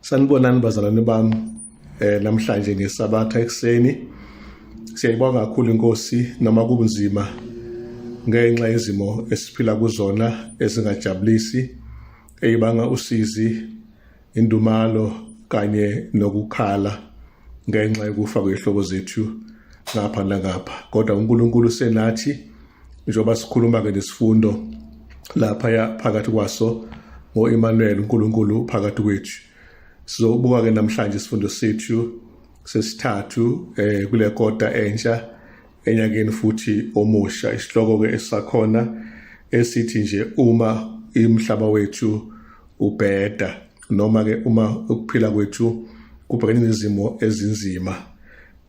Sanibonani bazalwane bami eh namhlanje ngesabatha ekseni siyayibonga kakhulu inkosi noma kubunzima ngenxa yezimo esiphila kuzona ezingajabulisi eyibanga usizi Indumalo kanye nokukhala ngenxa yokufa kwehlobo zethu ngapha nangapha kodwa uNkulunkulu senathi njengoba sikhuluma-ke nesifundo laphaya phakathi kwaso ngo-Emmanuel uNkulunkulu phakathi kwethu sizobuka-ke namhlanje isifundo sethu sesithathu eh kule kota entsha Enyakeni futhi omusha isihloko ke esakhona esithi nje uma imhlaba wethu ubheda noma ke uma ukuphila kwethu kubhekene nezimo ezinzima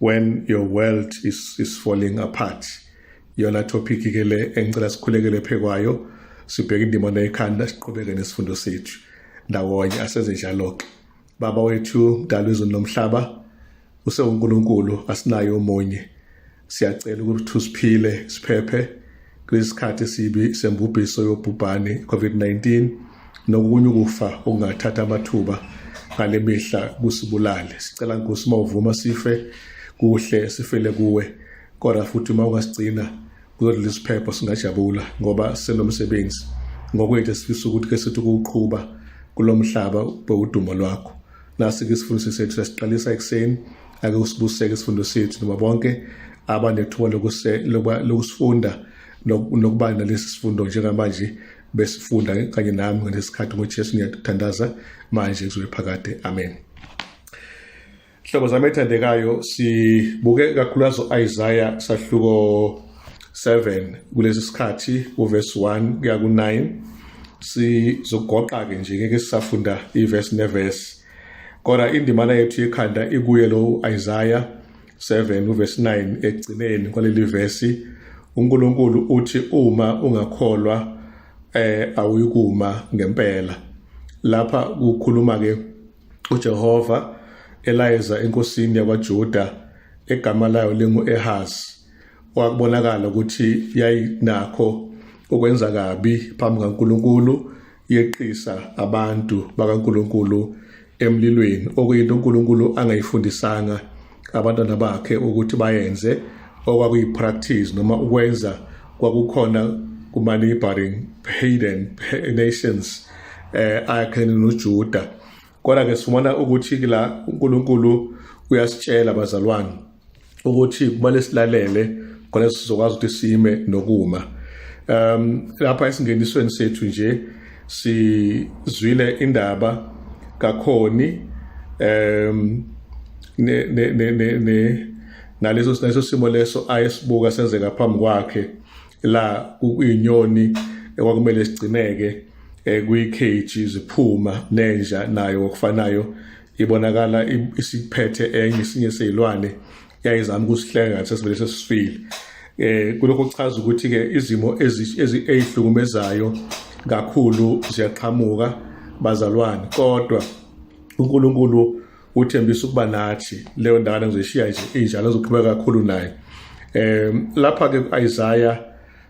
when your world is, is falling apart yona topic ke le engicela sikhulekele phekwayo sibheke indima nekhanda siqhubeke nesifundo sethu ndawonye asenze njalo-ke Baba wethu mdala wezulu nomhlaba usewuNkulunkulu asinayo omunye siyacela ukuthi usiphile siphephe kulesikhathi sibi sembubhiso yobhubhane covid-19 nokunye ukufa okungathatha amathuba ngale mihla kusibulale sicela nkosi uma uvuma sife kuhle sifele kuwe kodwa futhi uma ungasigcina kulolu lisiphepho singajabula ngoba senomsebenzi ngokwethu esifisa ukuthi ke sithi ukuwuqhuba kulo mhlaba ube udumo lwakho nasi-ke isifundo sethu sesiqalisa ekuseni ake usibuseke isifundo sethu noma bonke abanethuba lokusifunda nokuba nalesi sifundo njengamanje besifunda kanye nami ngalesi sikhathi ngojesu niyathandaza manje kuzobe phakade amen Hlobo zami ethandekayo sibuke kakhulukazi u-Isaiah sahluko 7 kulesi sikhathi uverse 1 kuya ku-9 sizogoqa-ke nje ngeke sisafunda iverse neverse kodwa indimana yethu yekhanda ikuye lo u-Isaiah 7 uverse 9 ekugcineni kwaleli verse uNkulunkulu uthi uma ungakholwa eh awuyikuma ngempela lapha kukhuluma ke uJehova elayeza enkosini yakwaJuda egama layo lingu-Ehazi wakubonakala ukuthi yayinakho ukwenza kabi phambi kaNkulunkulu yeqisa abantu bakaNkulunkulu emlilweni okuyinto uNkulunkulu angayifundisanga abantwana bakhe ukuthi bayenze okwakuyi-practice noma ukwenza kwakukhona kuma-neighboring hayden nations eh ayakhene noJuda kodwa ke sifumana ukuthi la uNkulunkulu uyasitshela bazalwane ukuthi kumele silalele khona sizokwazi ukuthi sime nokuma um lapha esingenisweni sethu nje sizwile indaba kakhoni um ne ne ne ne naleso sineso simo leso ayesibuka senzeka phambi kwakhe la uyinyoni ekwakumele sigcineke eh, kuyikheji ziphuma nenja nayo okufanayo ibonakala isiphethe enye isinye sezilwane yayizama ukusihleka ngathi sesivele sesifile eh kulokho kuchaza ukuthi ke izimo ezihlukumezayo kakhulu ziyaqhamuka bazalwane kodwa uNkulunkulu uthembisa ukuba nathi leyo ndakana ngizoshiya nje injalo ezoqhubeka kakhulu naye eh lapha ke kuIsaiah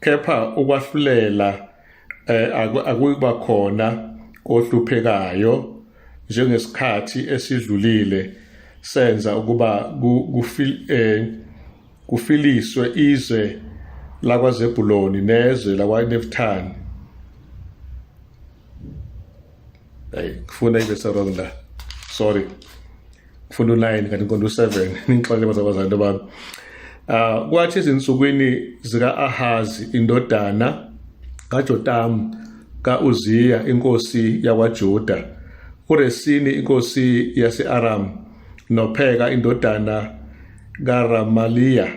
kepha ukwahlulela eh, akuyikuba khona kohluphekayo njengesikhathi esidlulile senza ukuba eh, kufiliswe izwe lakwaZebuloni nezwe lakwaNeftali Hey, ngifuna ibe serong la sorry ngifuna u-nine kanti ngiqonda u-seven ningixolele bazabazanto bami uh, kwathi ezinsukwini zika-ahazi indodana kajotamu ka-uziya inkosi yakwajuda uresini inkosi yase-aramu nopheka indodana karamaliya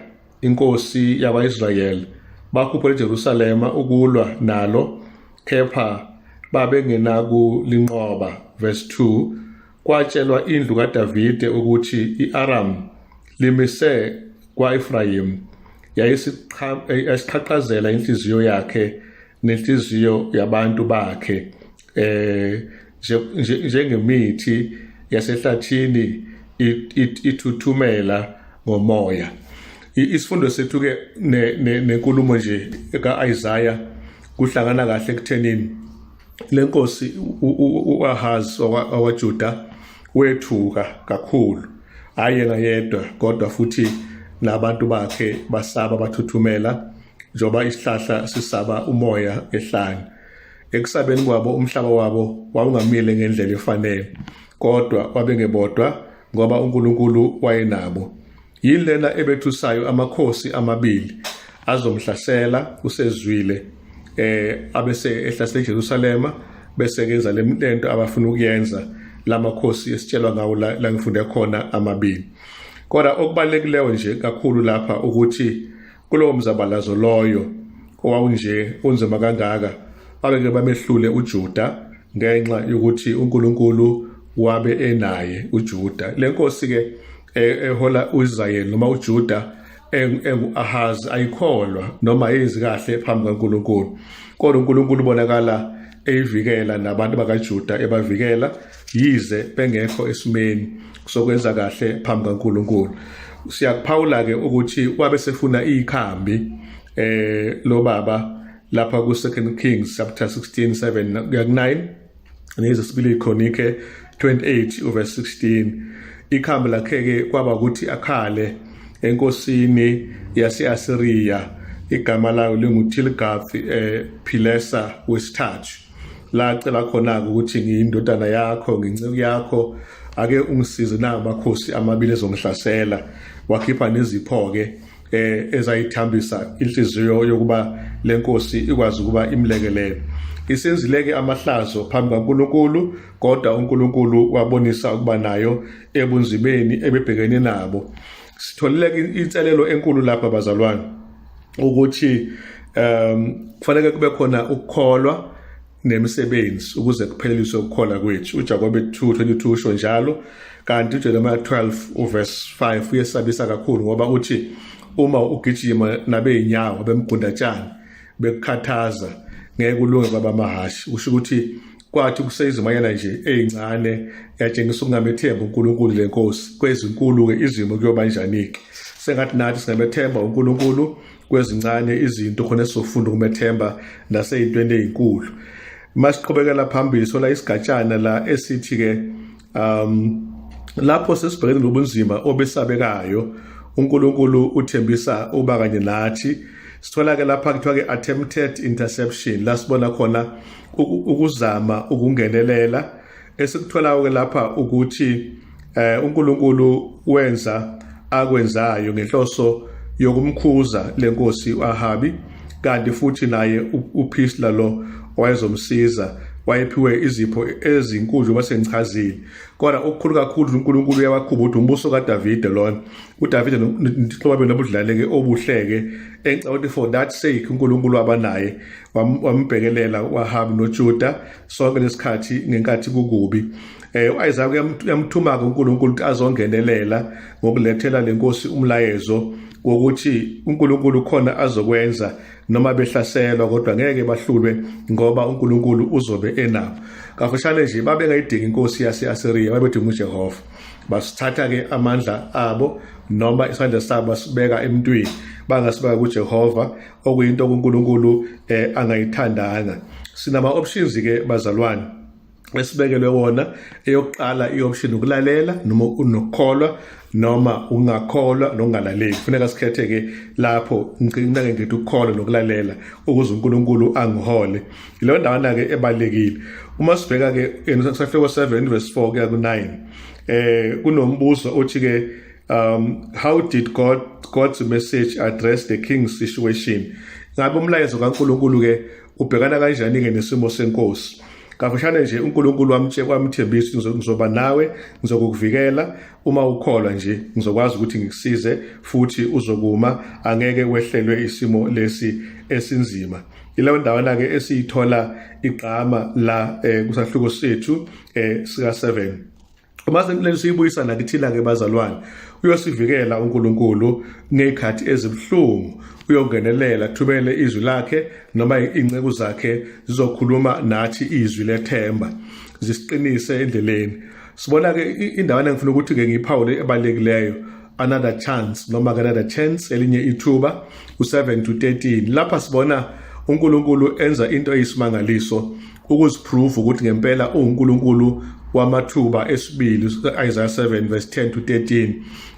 inkosi yakwa-israyeli bakhuphela ejerusalema ukulwa nalo kepha babengenakulinqoba verse 2 kwatshelwa indlu kadavide ukuthi i-aramu limise kwa-efrayimu yayisiqhaqhazela inhliziyo yakhe nenhliziyo yabantu bakhe eh njengemithi yasehlathini ithuthumela ngomoya isifundo sethu ke nenkulumo nje kaIsaiah kuhlangana kahle ekuthenini lenkosi uAhaz waJuda wethuka kakhulu hayi ngayedwa kodwa futhi nabantu bakhe basaba bathuthumela njoba isihlahla sisaba umoya ehlane Ekusabeni kwabo umhlaba wabo wawungamile ngendlela efanele, kodwa babengebodwa ngoba uNkulunkulu wayenabo. Yini lena ebethusayo amakhosi amabili azomhlasela usezwile eh abese ehlasela eJerusalema bese kenza lento abafuna ukuyenza lamakhosi esitshelwa ngawo la, la ngifunde khona amabili kodwa okubalulekileyo nje kakhulu lapha ukuthi kulowo mzabalazo loyo owawunje unzima kangaka abeke bamehlule uJuda ngenxa yokuthi uNkulunkulu wabe enaye uJuda lenkosi ke e, ehola uIsrael noma uJuda enguAhazi ayikholwa noma yenzi kahle phambi kaNkulunkulu kodwa uNkulunkulu ubonakala eyivikela nabantu bakaJuda ebavikela yize bengekho esimeni sokwenza kahle phambi kaNkulunkulu siyakuphawula ke ukuthi wabe sefuna ikhambi eh lo baba lapha ku second kings chapter 16 7 kuya ku 9 nezesibili chronike 28 uverse 16 ikhambi lakhe ke kwaba ukuthi akhale enkosini yase-asiriya igama layo lingutilgath eh, pilesa wesithathu la cela khona-ke ukuthi ngiyindodana yakho nginceku yakho ake ungisize na amakhosi amabili ezongihlasela wakhipha nezipho-ke eh ezayithambisa inhliziyo yokuba lenkosi ikwazi ukuba imlekelele isenzileke amahlazo phambi kaNkuluNkulu kodwa uNkuluNkulu wabonisa ukuba nayo ebunzimeni ebebhekene nabo sitholile inselelo enkulu lapha bazalwane ukuthi um kufanele kube khona ukukholwa nemisebenzi ukuze kupheleliswe ukukholwa kwethu uJakobe 2:22 usho njalo kanti uJeremiah 12 uverse 5 uyesabisa kakhulu ngoba uthi uma ugijima nabeyinyawo bemgundatshana bekukhathaza ngeke ulunge babamahhashi usho ukuthi kwathi kuseyizimayana nje ezincane yatshengisa ukungamethemba uNkulunkulu le nkosi kwezinkulu-ke izimo kuyoba njani-ke sengathi nathi singamethemba uNkulunkulu kwezincane izinto khona esizofunda ukumethemba naseyintweni ezinkulu masiqhubekela phambili sola isigatshana la esithi-ke um lapho sesibhekene nobunzima obesabekayo uNkulunkulu uthembisa uba kanye nathi sithola ke lapha kuthiwa ke attempted interception la sibona khona ukuzama ukungenelela esikuthola ke lapha ukuthi eh uNkulunkulu wenza akwenzayo ngenhloso yokumkhuza lenkosi uAhabi kanti futhi naye uPhisla lo owayezomsiza wayephiwe izipho ezinkulu njengoba sengichazile kodwa okukhulu kakhulu uNkulunkulu uyawakhupha ukuthi umbuso kaDavide lona uDavide nobuhlobabeni obudlaleke obuhleke engicabanga ukuthi for that sake uNkulunkulu wabanaye wambhekelela wahamba noJuda sonke lesikhathi ngenkathi kukubi Eh uIsaya uyamthuma ke uNkulunkulu ukuthi azongenelela ngokulethela lenkosi umlayezo wokuthi uNkulunkulu khona azokwenza noma behlaselwa kodwa ngeke bahlulwe ngoba uNkulunkulu uzobe enabo kafushane nje babengayidingi inkosi yaseAsiriya babedinga uJehova basithatha ke amandla abo noma isandla sabo basibeka emntwini bangasibeka kuJehova okuyinto uNkulunkulu eh, angayithandanga sinama options ke bazalwane esibekelwe wona eyokuqala i-option ukulalela noma unokukholwa noma ungakholwa nokungalaleli kufuneka sikhethe-ke lapho ngcinake ngithi ukukholwa nokulalela ukuze unkulunkulu angihole yileyo ndawana-ke ebalulekile uma sibheka-ke kusafika ko-seven verse four kuya ku-nine um kunombuzo othi-ke um how did god god's message address the king's situation ngabe umlayezo kankulunkulu-ke Ubhekana kanjani-ke nesimo senkosi? Kafushane nje uNkulunkulu wamtshe kwamthembisa ukuthi ngizoba nawe, ngizokukuvikela uma ukholwa nje, ngizokwazi ukuthi ngikusize futhi uzokuma, angeke wehlelwe isimo lesi esinzima. Yileyo ndawana-ke esiyithola igqama la eh, kusahluko sethu eh, sika-7. uma senileli siyibuyisa nakithina-ke bazalwane uyosivikela unkulunkulu ngey'khathi ezibuhlungu uyongenelela thubele izwi lakhe noma iy'nceku zakhe zizokhuluma nathi izwi lethemba zisiqinise endleleni sibona-ke indawana engifuna ukuthi-ke ngiyiphawule ebalulekileyo another chance noma another chance elinye ithuba u-7 to 13 lapha sibona uNkulunkulu enza into eyisimangaliso ukuziprove ukuthi ngempela uNkulunkulu wamathuba esibili Isaiah 7 verse 10 to 13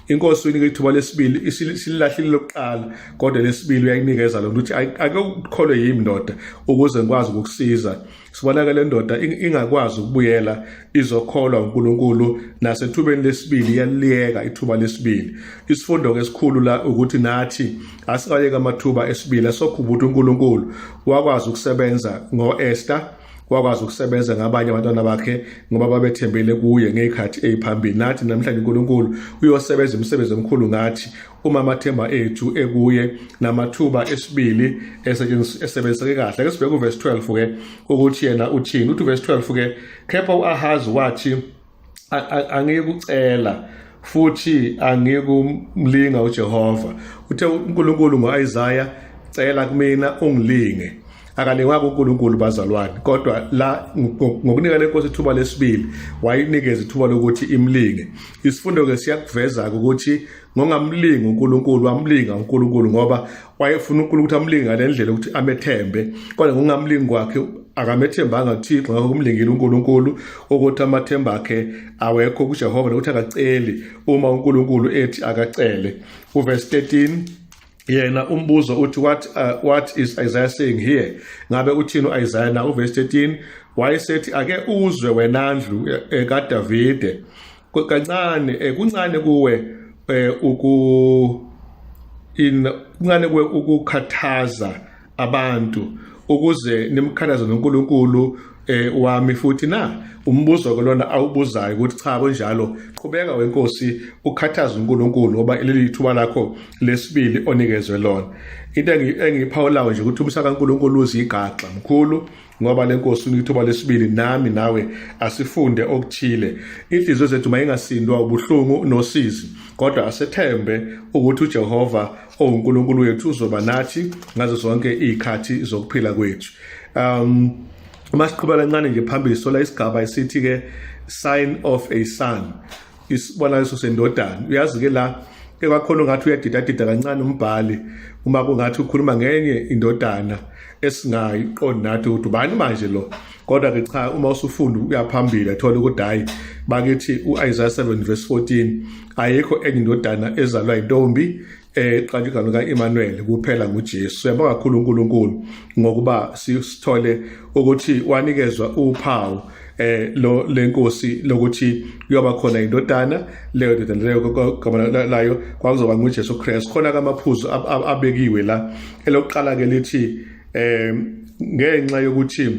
inkosi uyinika ithuba lesibili isilahlile lokuqala kodwa lesibili uyayinikeza lo ukuthi ake ukholwe yimi ndoda ukuze ngikwazi ukukusiza sibonakala lendoda ingakwazi ukubuyela izokholwa uNkulunkulu nasethubeni lesibili yaliyeka ithuba lesibili isifundo ke sikhulu la ukuthi nathi asingayeka amathuba esibili sokhubutha uNkulunkulu wakwazi ukusebenza ngoEsther wakwazi ukusebenza ngabanye abantwana bakhe ngoba babethembele kuye ngeyikhathi eziphambili nathi namhlanje uNkulunkulu uyosebenza imisebenzi emikhulu ngathi uma amathemba ethu ekuye namathuba esibili esebenziseke kahle ke sibheke uverse 12 ke ukuthi yena uthini uthi uverse 12 ke kepha uAhazi wathi angikucela futhi angikumlinga uJehova uthe uNkulunkulu ngoIsaiah cela kumina ungilinge akalingwa kuNkulunkulu bazalwane kodwa la ngokunika lenkosi ithuba lesibili wayinikeza ithuba lokuthi imlinge isifundo ke siyakuveza ukuthi ngongamlingi uNkulunkulu wamlinga uNkulunkulu ngoba wayefuna uNkulunkulu ukuthi amlinge ngale ndlela ukuthi amethembe kodwa ngongamlingi kwakhe akamethembanga uThixo ngakho kumlingile uNkulunkulu ukuthi amathemba akhe awekho kuJehova nokuthi akaceli uma uNkulunkulu ethi akacele uverse 13 yena umbuzo uthi what uh, what is Isaiah saying here ngabe uthini uIsaiah na uverse 13 wayesethi ake uzwe wena ndlu eh, kaDavide kancane eh, kuncane kuwe eh, uku in kuncane kuwe ukukhathaza abantu ukuze nimkhathaze noNkulunkulu eh wami futhi na umbuzo ke lona awubuzayo ukuthi cha kunjalo qhubeka wenkosi ukhathaza uNkulunkulu ngoba leli thuba lakho lesibili onikezwe lona into engiphawulayo nje ukuthi umsaka uNkulunkulu uzigaxa mkhulu ngoba le nkosi unika ithuba lesibili nami nawe asifunde okuthile inhliziyo zethu mayingasindwa ubuhlungu nosizi kodwa asethembe ukuthi uJehova owuNkulunkulu wethu uzoba nathi ngazo zonke izikhathi zokuphila kwethu um masiqhubeka kancane nje phambili sola isigaba esithi ke sign of a son isibonakaliso sendodana uyazi ke la ekwakhona ungathi uyadidadida kancane umbhali uma kungathi ukhuluma ngenye indodana esingayi qondi nathi ukuthi ubani manje lo kodwa ke cha uma usufunda uyaphambili athola ukuthi hayi bakithi uIsaiah 7 verse 14 ayikho enye indodana ezalwa intombi eqala igama lika-Emmanuel kuphela nguJesu siyabonga kakhulu uNkulunkulu ngokuba sithole ukuthi wanikezwa uphawu eh lo lenkosi lokuthi kuyoba khona indodana leyo ndodana leyo kwagama layo kwakuzoba nguJesu Christ khona kamaphuzu abekiwe la elokuqala ke lithi eh ngenxa yokuthi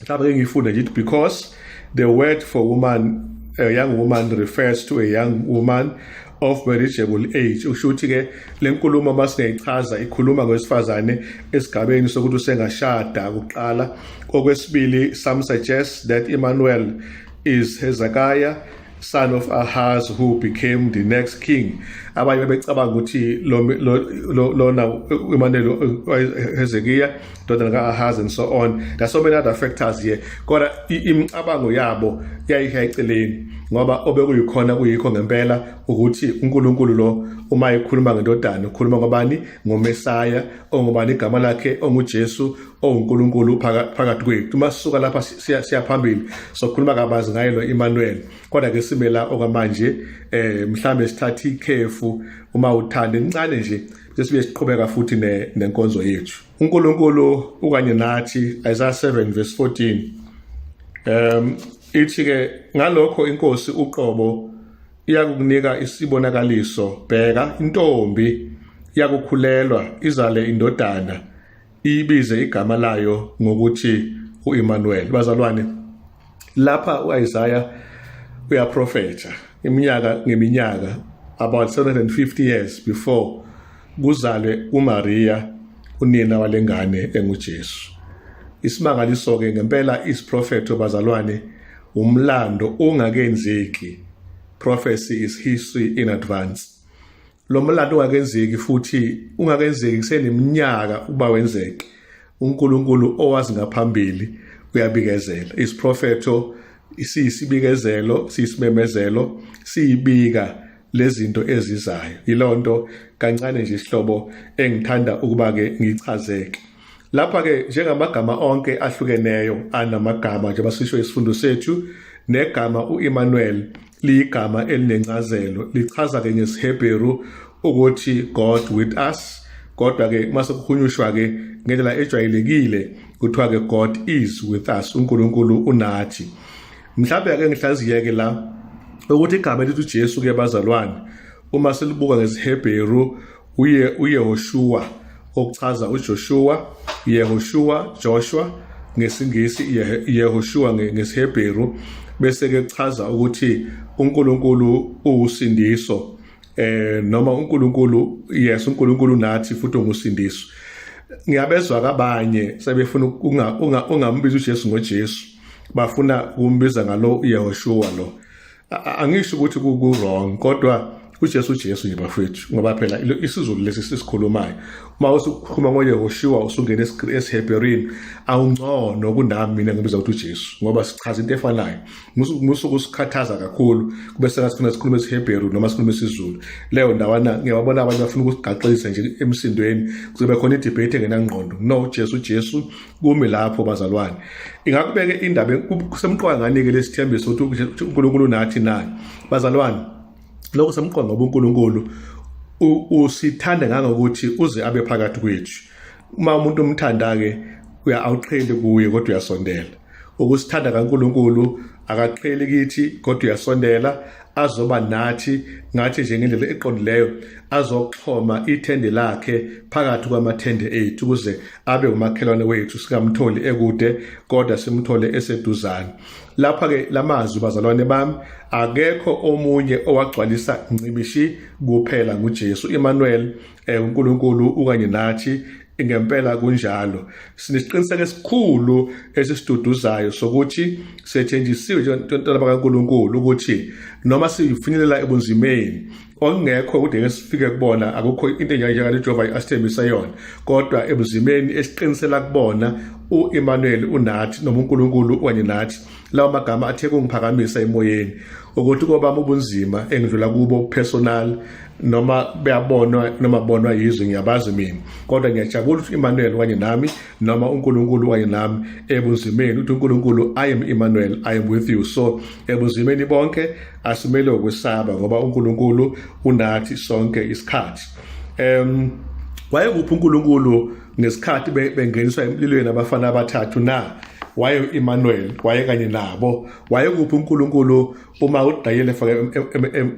mhlawumbe ke ngifunde ngithi because the word for woman a young woman refers to a young woman of marriageable age usho ukuthi ke lenkulumo uma singayichaza ikhuluma ngowesifazane esigabeni sokuthi usengashada kuqala okwesibili some suggest that Emmanuel is Hezekiah son of Ahaz who became the next king abanye bebecabanga ukuthi lona Emmanuel Hezekiah indodana ka-ahazi and so on there's so many other factors here kodwa imicabango yabo yayisha eceleni ngoba obekuyikhona kuyikho ngempela ukuthi uNkulunkulu lo uma ekhuluma ngendodana ukhuluma ngobani ngomesaya ongubani igama lakhe onguJesu onguNkulunkulu phakathi kwethu uma sisuka lapha siya phambili sokhuluma kabanzi ngaye lo Emmanuel kodwa ke simela okwamanje eh mhlambe sithatha ikhefu uma uthanda incane nje sesibuye siqhubeka futhi nenkonzo yethu uNkulunkulu ukanye nathi Isaiah 7 verse 14 um ithi ke ngalokho inkosi uqobo iyakukunika isibonakaliso bheka intombi iyakukhulelwa izale indodana ibize igama layo ngokuthi uImmanuel bazalwane lapha uIsaiah uyaprofetha iminyaka ngeminyaka about 750 years before kuzalwe uMaria unina walengane enguJesu isimangaliso ke ngempela isiprofetho bazalwane umlando ungakenzeki prophecy is history in advance lo mlando ungakenzeki futhi ungakenzeki kuseneminyaka ukuba wenzeke uNkulunkulu owazi ngaphambili uyabikezela isiprofetho siyisibikezelo siyisimemezelo siyibika lezinto ezizayo yilonto kancane nje isihlobo engithanda ukuba ke ngichazeke lapha ke njengamagama onke ahlukeneyo anamagama njengoba sisho isifundo sethu negama uEmmanuel liyigama elinencazelo lichaza ke ngesiHebheru ukuthi God with us kodwa ke mase kuhunyushwa ke ngendlela ejwayelekile kuthiwa ke God is with us uNkulunkulu unathi mhlawumbe ake ngihlaziye ke la ukuthi igama elithi uJesu ke bazalwane uma silibuka ngesiHebheru uye uYehoshua okuchaza uJoshua Yehoshua Joshua ngesingisi Yehoshua ngesiHebheru bese ke kuchaza ukuthi uNkulunkulu uwusindiso eh noma uNkulunkulu yes uNkulunkulu nathi futhi ungusindiso ngiyabezwa kabanye sebefuna ungambiza uJesu ngoJesu bafuna ukumbiza ngalo Yehoshua lo angisho ukuthi kuwrong kodwa uJesu uJesu nje bafethu ngoba phela isiZulu lesi sisikhulumayo uma usukhuluma ngoYehoshuwa usungena esiHebherini awungcono kunami mina ngibiza ukuthi uJesu ngoba sichaza into efanayo musuku sikhathaza kakhulu kube sengathi sifuna sikhulume isiHebheru noma sikhulume isiZulu leyo ndawana ngiyababona abanye bafuna ukusigaxisa nje emsindweni kuzobe khona idebate engenangqondo no uJesu uJesu kumi lapho bazalwane ingakubeke indaba kusemqoka ngani-ke lesithembiso ukuthi unkulunkulu nathi naye bazalwane lokho semqoka ngoba unkulunkulu usithanda ngangokuthi uze abe phakathi kwethu uma umuntu umthanda-ke uya awuqheli kuye kodwa uyasondela ukusithanda kaNkuluNkulu akaqheli kithi kodwa uyasondela azoba nathi ngathi nje ngendlela eqondileyo azoxhoma ithende lakhe phakathi kwamathende ethu ukuze abe umakhelwane wethu sikamtholi ekude kodwa simthole eseduzane lapha ke lamazwi bazalwane bami akekho omunye owagcwalisa ncibishi kuphela nguJesu Emmanuel Eh uNkulunkulu ukanye nathi ngempela kunjalo sinesiqiniseko esikhulu esisiduduzayo sokuthi sethenjisiwe njengontwana bakaNkuluNkulu ukuthi noma sifinyelela ebunzimeni okungekho kude ngesifike kubona akukho into enjalo uJehova asithembisa yona kodwa ebunzimeni esiqinisela kubona uEmmanuel unathi noma uNkulunkulu kanye nathi lawo magama athe kungiphakamisa emoyeni ukuthi kobami ubunzima engidlula kubo personal noma beyabonwa noma bonwa yizwe ngiyabazi mina kodwa ngiyajabula ukuthi Emmanuel wanye nami noma uNkulunkulu wanye nami ebunzimeni ukuthi uNkulunkulu I am Emmanuel I am with you so ebunzimeni bonke asimele ukwesaba ngoba uNkulunkulu unathi sonke isikhathi em wayekuphi uNkulunkulu ngesikhathi bengeniswa emlilweni abafana abathathu na waye u-Emmanuel waye kanye nabo waye kuphi uNkulunkulu uma uDayile efake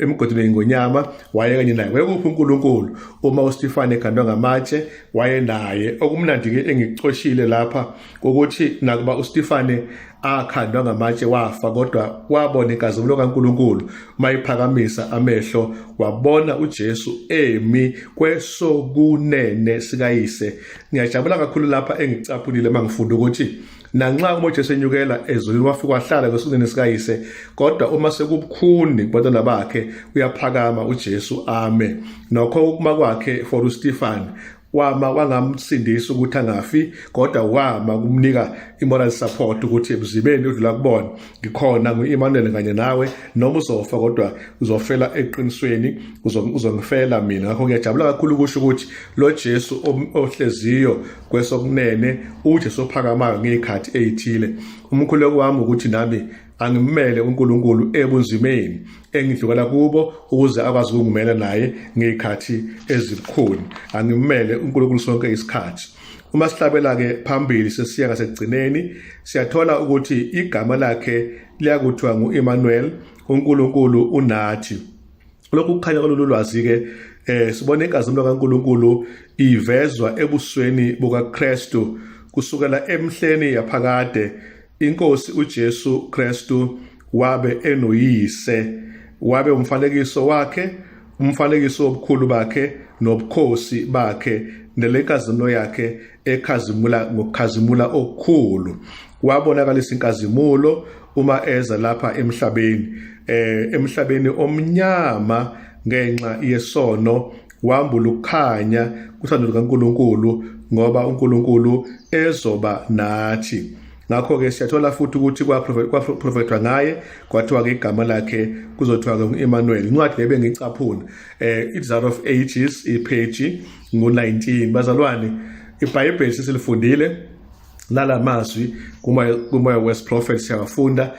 emgodini ngonyama waye kanye naye waye kuphi uNkulunkulu uma uStefane ekhandwa ngamatshe waye naye okumnandi ke engicoshile lapha ukuthi nakuba uStefane akhandwa ngamatshe wafa kodwa wabona inkazimulo kaNkuluNkulu mayiphakamisa amehlo wabona uJesu emi kwesokunene sikayise ngiyajabula kakhulu lapha engicaphulile mangifunda ukuthi nanxa uma uJesu enyukela ezulwini wafika wahlala kwesokunene sikayise kodwa uma sekubukhuni kubantwana bakhe uyaphakama uJesu ame nokho ukuma kwakhe for uStefan wama kwangamsindisa ukuthi angafi kodwa wama kumnika i-moral support ukuthi emzibeni udlula kubona ngikhona ngu-emmanuel kanye nawe noma uzofa kodwa uzofela eqinisweni uzongifela mina ngakho ngiyajabula kakhulu ukusho ukuthi lo jesu ohleziyo kwesokunene ujesu ophakamayo ngey'khathi ey'thile umkhuleko wami ukuthi nami angimele uNkulunkulu ebunzimeni engidlukela kubo ukuze akwazi ukungimela naye ngezikhathi ezibukhuni angimele uNkulunkulu sonke isikhathi uma sihlabela ke phambili sesiya ngasekugcineni siyathola ukuthi igama lakhe liyakuthiwa ngu-Emmanuel uNkulunkulu unathi lokhu kukhanya kololu lwazi ke eh sibona inkazimulo kaNkulunkulu ivezwa ebusweni bukaKristu kusukela emhleni yaphakade INkosi uJesu Kristu wabe enoyise, wabe umfanekiso wakhe, umfanekiso wobukhulu bakhe nobukhosi bakhe nelenkazimulo yakhe ekhazimula ngokukhazimula okukhulu wabonakalisa inkazimulo uma eza lapha emhlabeni eh emhlabeni omnyama ngenxa yesono wambula ukukhanya kuthandwa lukaNkulunkulu ngoba uNkulunkulu ezoba nathi ngakho-ke siyathola futhi ukuthi kwaprofethwa ngaye kwathiwa-ke igama lakhe kuzothiwa-ke u-emmanuel incwadi le bengiyicaphuna um eh, i-desire of ages ipheji ngu-19 bazalwane ibhayibheli sesilifundile lala mazwi kumoya west prophet siyawafunda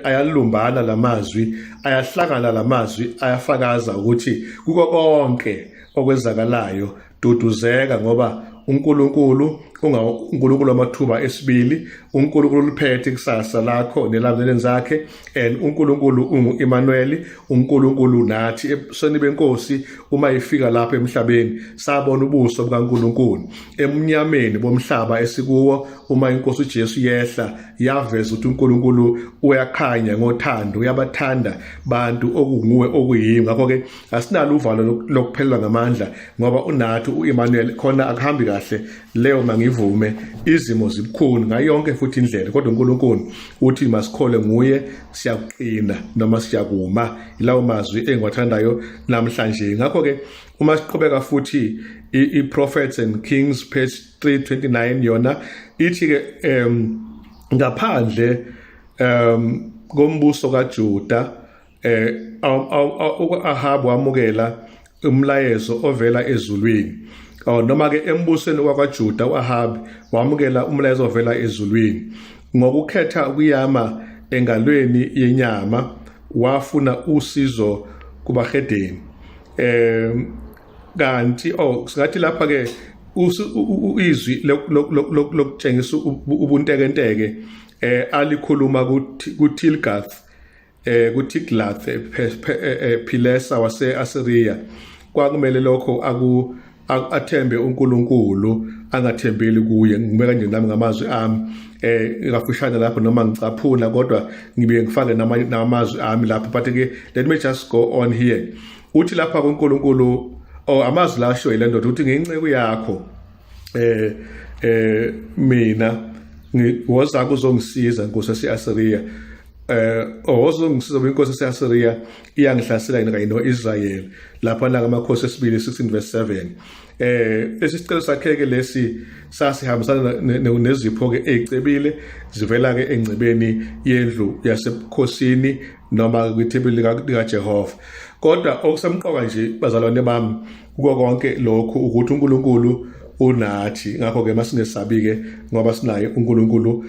ayalumbana la mazwi ayahlangana la mazwi ayafakaza ukuthi kuko konke okwenzakalayo duduzeka ngoba uNkulunkulu uNkulunkulu wamathuba esibili uNkulunkulu uliphethe ikusasa lakho nelamuleni zakhe and uNkulunkulu unguEmanuel uNkulunkulu nathi ebusweni benkosi uma ifika lapha emhlabeni sabona ubuso bukaNkulunkulu emnyameni bomhlaba esikuwo uma inkosi uJesu yehla yaveza ukuthi uNkulunkulu uyakhanya ngothando uyabathanda bantu okunguwe okuyimi ngakho ke asinalo uvalo lokuphelelwa ngamandla ngoba unathi uEmanuel khona akuhambi kahle leyo mangivume izimo zibukhuni ngayo yonke futhi indlela kodwa uNkulunkulu uthi masikhole nguye siyakuqina noma siyakuma ilawo mazwi engiwathandayo namhlanje ngakho ke uma siqhubeka futhi i-prophets and kings page 329 yona ithi ke um ngaphandle um kombuso kaJuda eh uAhabu wamukela umlayezo ovela ezulwini oh, noma ke embusweni wakwaJuda uAhabi wamukela umlayezo ovela ezulwini ngokukhetha ukuyama engalweni yenyama wafuna usizo kubahedeni eh kanti oh singathi lapha ke izwi lokutshengisa ubuntekenteke eh alikhuluma kuTilgath eh kuTiglath eh, eh, eh, Pilesa waseAsiriya kwakumele lokho aku athembe uNkulunkulu angathembeli kuye ngime kanje nami ngamazwi ami eh kafushane lapho noma ngicaphuna kodwa ngibe ngifake namazwi ami lapho but ke let me just go on here uthi lapha kuNkulunkulu oh amazwi la asho ile ndoda uthi nginceku yakho eh eh mina ngiwoza kuzongisiza nkosi yaseAsiriya eh owozongisiza oh, inkosi yaseAsiria iyangihlasela yena kanye noIsrael lapha la ngamakhosi esibili 16 verse 7 eh lesicelo sakhe ke lesi sasihambisana nezipho ke ezicebile zivela ke engcebeni yendlu yasebukhosini noma kwithebeli likaJehova kodwa okusemqoka nje bazalwane bami kuko konke lokhu ukuthi uNkulunkulu unathi ngakho ke masingesabi ke ngoba sinaye uNkulunkulu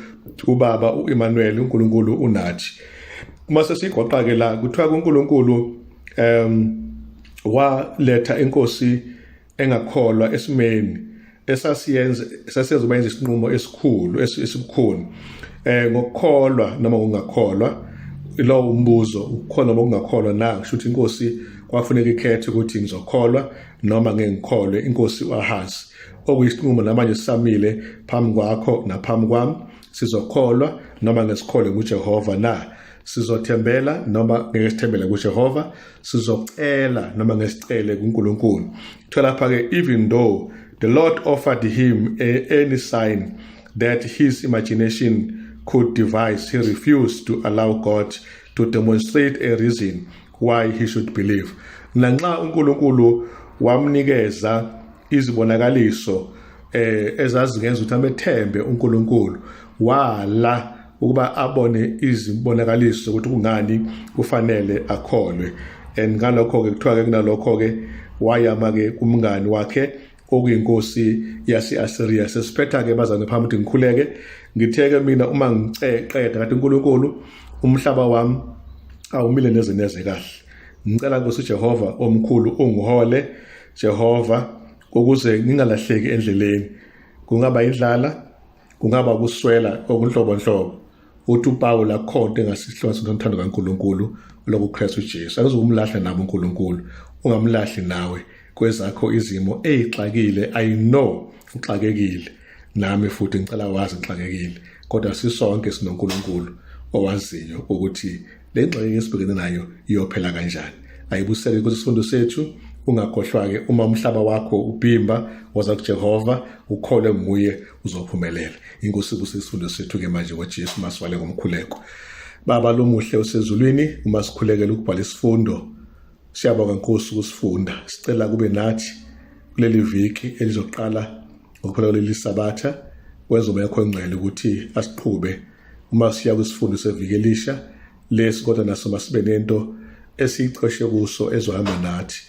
ubaba uEmmanuel uNkulunkulu unathi uma sesigoqa ke la kuthiwa kuNkulunkulu em waletha inkosi engakholwa esimeni esasiyenza esasiyenza uba yenza isinqumo esikhulu esibukhuni eh ngokukholwa noma ngokungakholwa lowo umbuzo ukukholwa noma ukungakholwa na kusho ukuthi inkosi kwafuneka ikhethe ukuthi ngizokholwa noma ngeke ngikholwe inkosi uAhazi okuyisinqumo namanje sisamile phambi kwakho naphambi kwami sizokholwa noma ngesikholwe nguJehova na sizothembela noma ngeke sithembele kuJehova sizocela noma ngesicele kuNkulunkulu thola pha ke even though the lord offered him a, any sign that his imagination could devise he refused to allow god to demonstrate a reason why he should believe nanxa uNkulunkulu wamnikeza izibonakaliso eh ezazingenza ukuthi amethembe uNkulunkulu wala ukuba abone izibonakaliso ukuthi kungani kufanele akholwe and ngalokho ke kuthiwa ke kunalokho ke wayama ke kumngani wakhe okuyinkosi yase-asiriya sesiphetha-ke bazane phambi ukuthi ngikhuleke ngitheke mina uma ngiceqeda kade unkulunkulu umhlaba wami awumile neze neze kahle ngicela nkosi ujehova omkhulu ungihole jehova ukuze ngingalahleki endleleni kungaba indlala kungaba ukuswela okunhlobonhlobo uthi upawula akhonto engasihlwa sinothando kankulunkulu lokuKristu Jesu akuzokumlahla nabo uNkulunkulu ungamlahli nawe kwezakho izimo eyixakile i know uxakekile nami futhi ngicela wazi ngixakekile kodwa sisonke sinoNkulunkulu owaziyo ukuthi le ngxenye esibhekene nayo iyophela kanjani ayibuseke kwisifundo sethu ungakhohlwa-ke uma umhlaba wakho ubhimba woza kujehova ukholwe nguye uzophumelela inkosi kuse isifundo sethu ke manje ngoJesu masivale ngomkhuleko baba lomuhle usezulwini uma sikhulekela ukubhala isifundo siyabonga nkosi ukusifunda sicela kube nathi kuleli viki elizoqala ngokuphela kuleli sabatha kwezoba yakho engcwele ukuthi asiqhube uma siya kwisifundo seviki elisha lesi kodwa naso masibe nento esiyicoshe kuso ezohamba nathi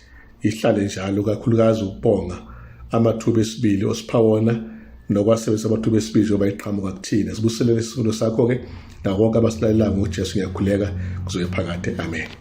ihlale njalo kakhulukazi ukubonga amathuba esibili osipha wona nokwasebenzisa amathuba esibili njengoba iqhamuka kuthina sibuselele isifundo sakho-ke nakonke abasilalelayo ngojesu ngiyakhuleka kuzoye phakade amen